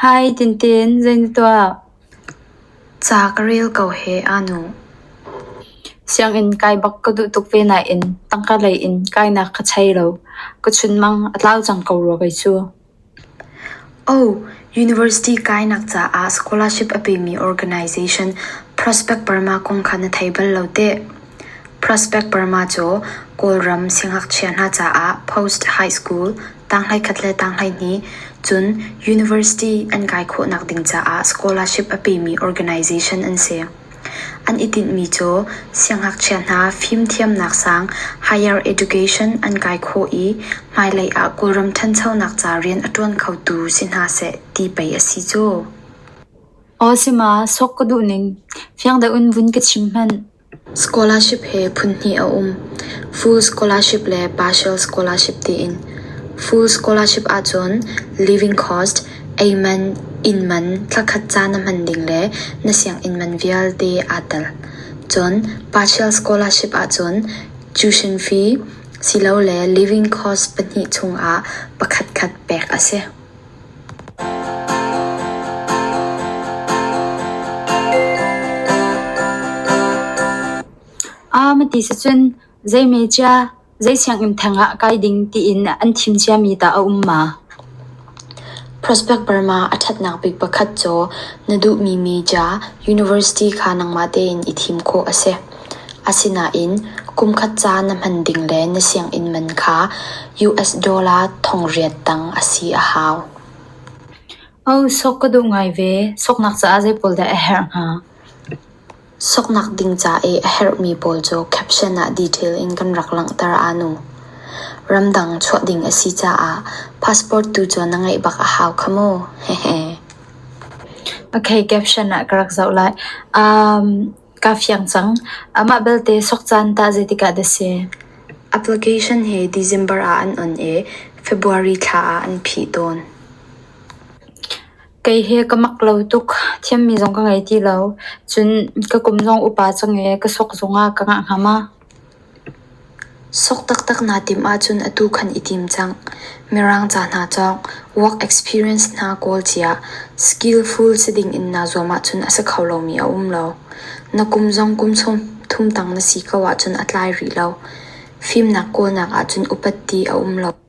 Hi Tintin, zei na tuah? Ca ka rel ko he aa nu. Sianginn kai bak ka duh tuk ve nain tangka lei in kainak ka thei lo. Ka chunmang a tlau cang ko rua kei cu. Oh, university kainak caah scholarship a pemi organisation Prospect Burma kong kha na thei bal lo teh. Prospect Burma cu Kawlram siangngakchia hna caah post high school tanghhlei khat le tanghhlei hnih cun university an kai khawhnak ding caah scholarship a pemi organisation an si. An i tinhmi cu siangngakchia hna fimthiamnak sang higher education an kai khawh i hmailei ah Kawlram ṭhanchonak ca rian a ṭuan khotu si hna seh ti pei a si cu. Aw sima sok ka duh ning fiang deuh vun ka chim hmanh. Scholarship he phunhnih a um. Full scholarship le partial scholarship tiin. Full scholarship ahcun living cost Eiman inn man thlakhat ca na hman ding le na sianginn man vialte aa tel. Cun partial scholarship ahcun tuition fee silole living cost pahnih chungah pakhatkhat pek a si. Aa mati sicun zei mecia. Zei sianginn theng ah kai ding tiin an thim ciami dah a um ma? Prospect Burma a ṭhatnak bik pakhat cu na duhmi media, university kha nangmah tein i thim khawh a si. Asinain kumkhat ca na hman ding le na sianginn man kha US dollar thongliat tang a si a hau. Sok ka duh ngai ve. Soknak caah zei pawl dah a herh hnga? Soknak ding ca i a herhmi pawl cu caption ah detail in kan rak langhter ahnu. Ramdang chuah ding a si caah passport tu cu na ngeih bak a hau kha mu. Hehe. Okay, caption ah ka rak zoh lai. Um, kaa fiang cang. Amah belte sok caan tah zeitikah dah si? Application hi December ah an on i February thla ah an phih tawn. Kei hi ka mak lo tuk. Thiammi zong ka ngei ti lo. Cun ka kum zong upa cang i ka sok zongah ka ngah ngam a. Sok taktak naa timh ahcun atu khan i tim cang. Mirang ca hna cawng, work experience hna kawl ciah, skillful si dingin naa zuam ahcun a si kho lomi a um lo. Na kum zong kum thum tang na si ko ahcun a tlai rih lo. Fimnak kawlnak ahcun upat ti a um lo.